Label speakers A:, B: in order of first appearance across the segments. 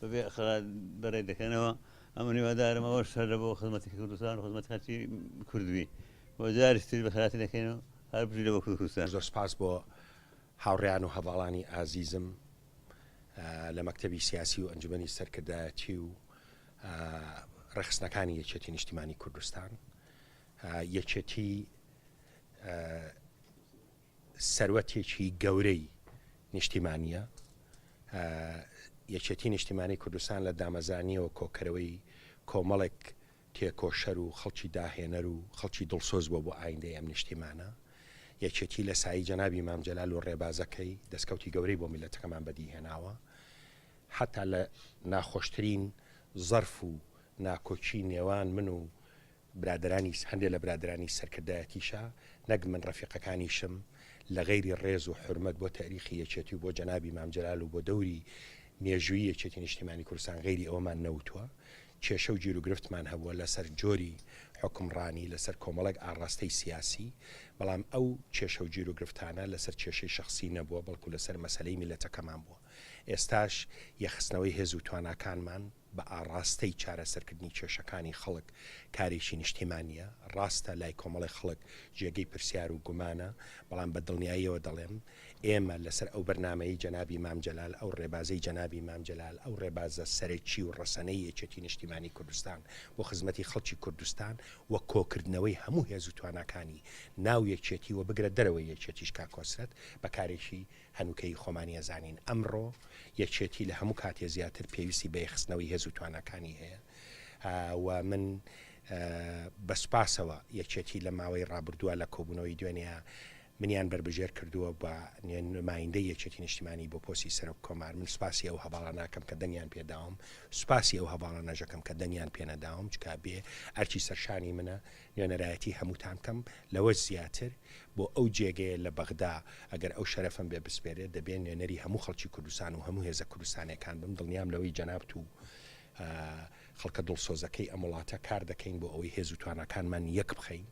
A: بەبێ ئەخڵا بەرەی دەکەنەوە ئەمن هیوادارم ئەوەش هەر لەبۆ خزمەتی کوردستان و خزمەتی خەلکی کورد بی و جاریش تری بەخیاتی دەکەین و هەر بژی لەبۆ کورد کوردستان. زۆر سپاس بۆ
B: هاوڕێیان و هەڤاڵانی ئازیزم لە مەکتەبی سیاسی و ئەنجومەنی سەرکردایەتی و ڕێکخستنەکانی یەکێتی نیشتیمانی کوردستان یەکێتی سەروەتێکی گەورەی نیشتیمانییە. یەکێتی نیشتیمانی کوردستان لە دامەزرانیەوە کۆکەرەوەی کۆمەڵێک تێکۆشەر و خەڵکی داهێنەر و خەڵکی دڵسۆز بووە بۆ ئایندەی ئەم نیشتیمانە. یەکێتی لە سایی جەنابی مام جەلال و ڕێبازەکەی دەستکەوتی گەورەی بۆ میللەتەکەمان بەدیهێناوە. حەتا لە ناخۆشترین زەرف و ناکۆکی نێوان من و برادەرانی هەندێ لە برادەرانی سەرکردایەتیشا نەک من ڕەفیقەکانیشم لە غەیری ڕێز و حورمەت بۆ تەئریخی یەکێتی و بۆ جەنابی مام جەلال و بۆ دەوری مێژووی یەکێتی نیشتیمانی کوردستان غەیری ئەوەمان نەوتوە کێشە و گیروگرفتمان هەبوە لە سەر جۆری حوکمڕانی لە سەر کۆمەڵێک ئاڕاستەی سیاسی بەڵام ئەو کێشە و گیروگرفتانە لە سەر کێشەی شەخسی نەبوە بەڵکو لە سەر مەسەلەی میلەتەکەمان بوە ئێستاش یەخستنەوەی هێز و تواناکانمان بە ئاڕاستەی چارەسەرکردنی کێشەکانی خەڵک کارێکی نیشتیمانییە. ڕاستە لای کۆمەڵێک خەڵک جێگەی پرسیار و گومانە، بەڵام بە دڵنیاییەوە دەڵێم، ئێمە لەسەر ئەو بەرنامەیەی جەنابی مام جەلال، ئەو ڕێبازەی جەنابی مام جەلال، ئەو ڕێبازە سەرەکی و ڕەسەنەی یەکێتی نیشتیمانی کوردستان بۆ خزمەتی خەڵکی کوردستان و کۆکردنەوەی هەموو هێز و تواناکانی ناو یەکێتی و بگرە دەرەوەی یەکێتیش کاک کۆسرەت بە کارێکی هەنووکەیی خۆمانی ئەزانین ئەمڕۆ یەکێتی لە هەموو کاتێ زیاتر پێویستی بە یەخستنەوەی هێز و تواناکانی هەیە و من بە سوپاسەوە یەکێتی لە ماوەی ڕابردووە لە کۆبوونەوەی دوێنێ منیان بربژێر کردووە بە نمایندە یەکێتی نیشتیمانی بۆ پۆسی سەرۆک کۆمار من سوپاسی ئەو هەواڵە ناکەم کە دەنگیان پێداوم سوپاسی ئەو هەواڵە نەژەکەم کە دەنگیان پێنەداوم چکا بێ ئەرچی سەرشانی منە نوێنەرایەتی هەمووتان کەم لەوەش زیاتر بۆ ئەو جێگەیە لە بەغدا ئەگەر ئەو شەرەفەم بێ بسپێرێت دەبێ نوێنەری هەموو خەڵکی کوردستان و هەموو هێزە کوردستانیەکان بم دڵنیام لەوەی جەنابت و خەڵکە دڵسۆزەکەی ئەم وڵاتە کار دەکەین بۆ ئەوەی هێز و تواناکانمان یەک بخەین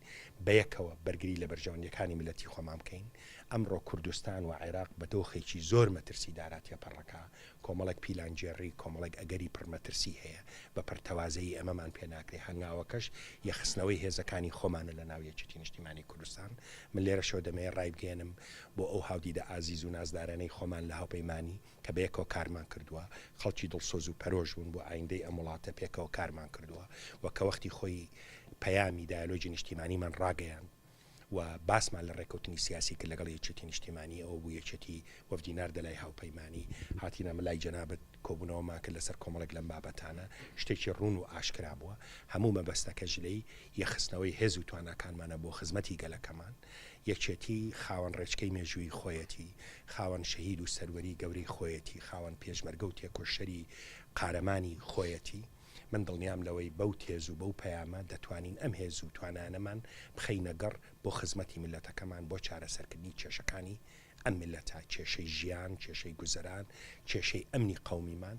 B: بەیەکەوە بەرگری لە بەرژەوەندیەکانی ملەتی خۆمان بکەین ئەمڕۆ کوردستان و عێراق بە دۆخێکی زۆر مەترسی دارا تێپەڕەکە کۆمەڵێک پیلانگێڕی، کۆمەڵێک ئەگەری پڕ مەترسی هەیە، بە پەرتەوازەیی ئەمەمان پێ ناکرێ، هەنگاوەکەش یەخستنەوەی هێزەکانی خۆمانە لە ناو یەکێتی نیشتیمانی کوردستان. من لێرەشەوە دەمەوێ ڕایبگەیەنم بۆ ئەو هاودیدە ئازیز و نازدارەنەی خۆمان لە هاوپەیمانی، کە بەیەکەوە کارمان کردووە، خەڵکی دڵسۆز و پەرۆش بوون بۆ ئایندەی ئەم وڵاتە پێکەوە کارمان کردووە و کە وەختی خۆی پەیامی دایەلۆگی نیشتیمانیمان ڕاگەیاند، و باسمان لە ڕێکەوتنی سیاسی کرد لەگەڵ یەکێتی نیشتیمانی، ئەوە بوو یەکێتی وەفدی ناردە لای هاوپەیمانی، هاتینە ئەمە لای جەنابت کۆبوونەوەمان کرد لەسەر کۆمەڵێک لەم بابەتانە، شتێکی ڕوون و ئاشکرا بووە، هەموو مەبەستەکەش لێی یەخستنەوەی هێز و تواناکانمانە بۆ خزمەتی گەلەکەمان، یەکێتی خاوەن ڕێچکەی مێژوویی خۆیەتی، خاوەن شەهید و سەروەری گەورەی خۆیەتی، خاوەن پێشمەرگە و تێکۆشەری قارەمانی خۆیەتی، من دڵنیام لەوەی بەو تێز و بەو پەیامە دەتوانین ئەم هێز و توانایانەمان بخەینە گەڕ بۆ خزمەتی میللەتەکەمان بۆ چارەسەرکردنی کێشەکانی ئەم میللەتە، کێشەی ژیان، کێشەی گوزەران، کێشەی ئەمنی قەومیمان.